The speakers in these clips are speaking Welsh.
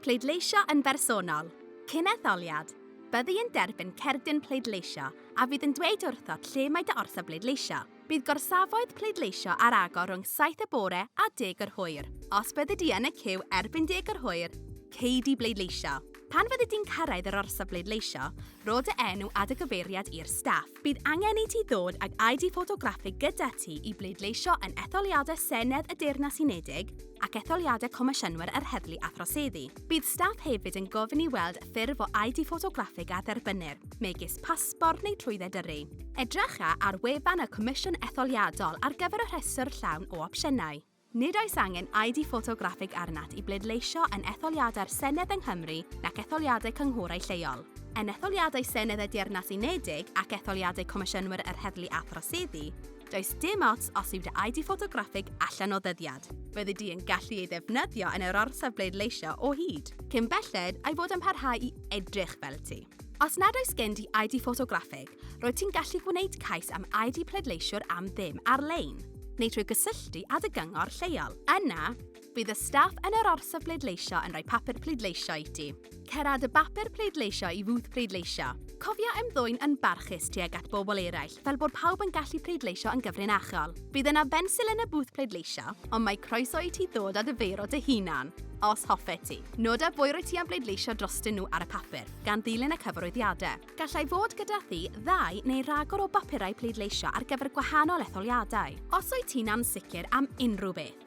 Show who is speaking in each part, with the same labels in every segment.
Speaker 1: Pleidleisio yn bersonol. Cyn etholiad, byddi yn derbyn cerdyn pleidleisio a fydd yn dweud wrthot lle mae dy orsaf bleidleisio. Bydd gorsafoedd pleidleisio ar agor rhwng saith y bore a deg yr hwyr. Os byddi di yn y ciw erbyn deg yr hwyr, cei di bleidleisio. Pan fyddi di'n cyrraedd yr orsaf bleidleisio, rho dy enw a dy gyfeiriad i'r staff. Bydd angen i ti ddod ag ID ffotograffig gyda ti i bleidleisio yn etholiadau Senedd y Deyrnas Unedig ac etholiadau Comisiynwyr yr Heddlu a Throseddu. Bydd staff hefyd yn gofyn i weld ffurf o ID ffotograffig a dderbynnir, megis pasbort neu trwydded yrru. Edrycha ar wefan y Comisiwn Etholiadol ar gyfer y rhestr llawn o opsiynau. Nid oes angen ID ffotograffig arnat i bleidleisio yn etholiadau'r Senedd yng Nghymru nac etholiadau cynghorau lleol. Yn etholiadau Senedd y Deyrnas Unedig ac etholiadau Comisiynwyr yr Heddlu a Throseddu, does dim ots os yw dy ID ffotograffig allan o ddyddiad, fyddi di yn gallu ei ddefnyddio yn yr orsaf bleidleisio o hyd, cyn belled a'i fod yn parhau i edrych fel ti. Os nad oes gen di ID ffotograffig, roedd ti'n gallu gwneud cais am ID pleidleisiwr am ddim ar-lein, neu trwy gysylltu â dy gyngor lleol. Yna, bydd y staff yn yr orsaf bleidleisio yn rhoi papur pleidleisio i ti. Cera dy bapur pleidleisio i fwth pleidleisio. Cofia ymddwyn yn barchus tuag at bobl eraill fel bod pawb yn gallu pleidleisio yn gyfrinachol. Bydd yna bensil yn y bwth pleidleisio, ond mae croeso i ti ddod â dy feiro dy hunan, os hoffet ti. Nod a bwy rwy ti am bleidleisio drostyn nhw ar y papur, gan ddilyn y cyfarwyddiadau. Gallai fod gyda thi ddau neu ragor o bapurau pleidleisio ar gyfer gwahanol etholiadau. Os wyt ti'n ansicr am unrhyw beth,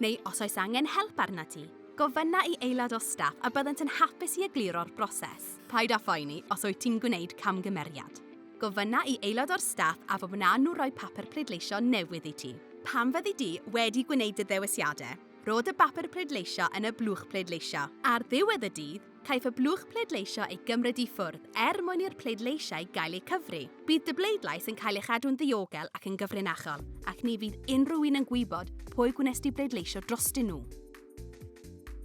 Speaker 1: neu os oes angen help arna ti, gofynna i aelod o staff a byddant yn hapus i egluro'r broses. Paid â phoeni os wyt ti'n gwneud camgymeriad. Gofynna i aelod o'r staff a fo wnawn nhw roi papur pleidleisio newydd i ti. Pan fyddi di wedi gwneud dy ddewisiadau, rho dy bapur pleidleisio yn y blwch pleidleisio. Ar ddiwedd y dydd, caiff y blwch pleidleisio ei gymryd i ffwrdd er mwyn i'r pleidleisiau gael eu cyfri. Bydd dy bleidlais yn cael ei chadw'n ddiogel ac yn gyfrinachol, ac ni fydd unrhyw un yn gwybod pwy gwnes di bleidleisio drostyn nhw.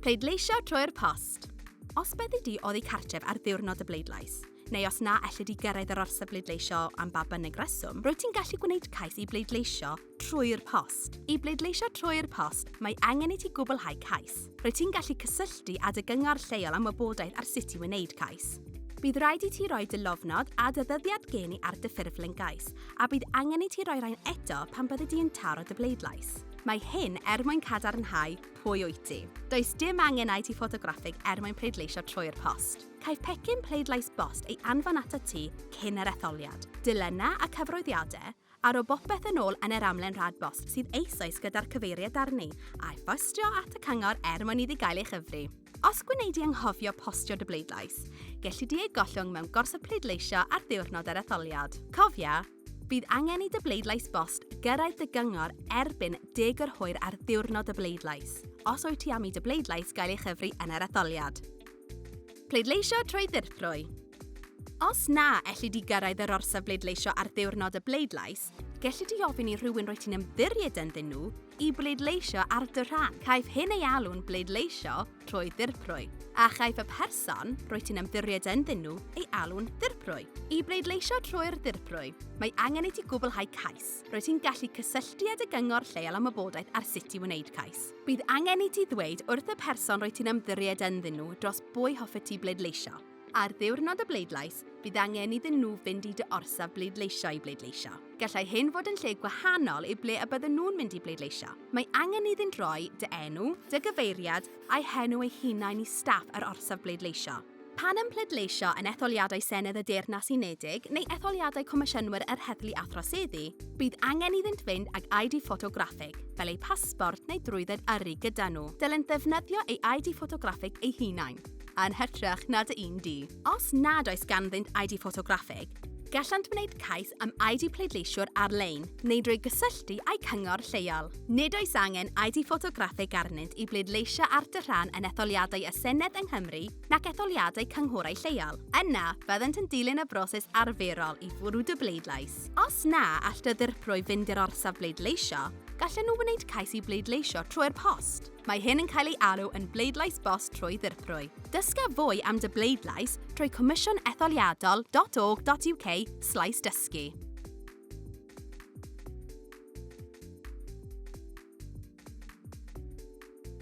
Speaker 1: Pleidleisio trwy'r post. Os byddi di oddi cartref ar ddiwrnod y bleidlais, neu os na elli di gyrraedd yr orsaf bleidleisio am ba bynnag reswm, rwyt ti'n gallu gwneud cais i bleidleisio trwy'r post. I bleidleisio trwy'r post, mae angen i ti gwblhau cais. Rwyt ti'n gallu cysylltu â dy gyngor lleol am wybodaeth ar sut i wneud cais. Bydd rhaid i ti roi dy lofnod a dy ddyddiad gen i ar dy ffurflen gais, a bydd angen i ti roi rhain eto pan byddi di'n taro dy bleidlais. Mae hyn er mwyn cadarnhau pwy wyt ti. Does dim angen i ti ffotograffig er mwyn pleidleisio trwy'r post. Caiff pecyn pleidlais bost ei anfon atat ti cyn yr etholiad. Dilynna a cyfroeddiade, a ro bopeth yn ôl yn yr amlen rhad bost sydd eisoes gyda'r cyfeiriad arni, a'i phostio at y cyngor er mwyn iddi gael ei chyfri. Os gwnei di anghofio postio dy bleidlais, gelli di ei gollwng mewn gorsaf pleidleisio ar ddiwrnod yr etholiad. Cofia, bydd angen i dy bleidlais bost gyrraedd dy gyngor erbyn deg o'r hwyr ar ddiwrnod y bleidlais, os wyt ti am i dy bleidlais gael ei chyfri yn yr etholiad. Pleidleisio trwy ddirprwy. Os na elli di gyrraedd yr orsaf bleidleisio ar ddiwrnod y bleidlais, gelli di ofyn i rhywun roi ti'n ymddiried ynddyn nhw i bleidleisio ar dy rhan. Caiff hyn ei alw'n bleidleisio trwy ddirprwy, a chaiff y person roi ti'n ymddiried ynddyn nhw ei alw'n ddirprwy. I bleidleisio trwy'r ddirprwy, mae angen i ti gwblhau cais. Rwyt ti'n gallu cysylltu â dy gyngor lleol am wybodaeth ar sut i wneud cais. Bydd angen i ti ddweud wrth y person rwy ti'n ymddiried ynddyn nhw dros bwy hoffet ti bleidleisio. Ar ddiwrnod y bleidlais, bydd angen iddyn nhw fynd i dy orsaf bleidleisio i bleidleisio. Gallai hyn fod yn lle gwahanol i ble y bydden nhw'n mynd i bleidleisio. Mae angen iddynt roi dy enw, dy gyfeiriad, a'u henw eu hunain i staff yr orsaf bleidleisio. Pan ym pleidleisio yn etholiadau Senedd y Deyrnas Unedig neu etholiadau Comisiynwyr yr Heddlu a Throseddu, bydd angen iddynt fynd ag ID ffotograffig, fel eu pasbort neu drwydded yrru gyda nhw. Dylent ddefnyddio ei ID ffotograffig eu hunain, yn hytrach na dy un di. Os nad oes ganddynt ID ffotograffig, Gallant wneud cais am ID pleidleisiwr ar-lein neu drwy gysylltu â'i cyngor lleol. Nid oes angen ID ffotograffig arnynt i bleidleisio ar dy rhan yn etholiadau y Senedd yng Nghymru nac etholiadau cynghorau lleol. Yna, byddant yn dilyn y broses arferol i fwrw dy bleidlais. Os na all dy ddirprwy fynd i'r orsaf bleidleisio, gallen nhw wneud cais i bleidleisio trwy'r post. Mae hyn yn cael ei alw yn bleidlais bost trwy ddirprwy. Dysga fwy am dy bleidlais trwy comissionetholiadol.org.uk slaes dysgu.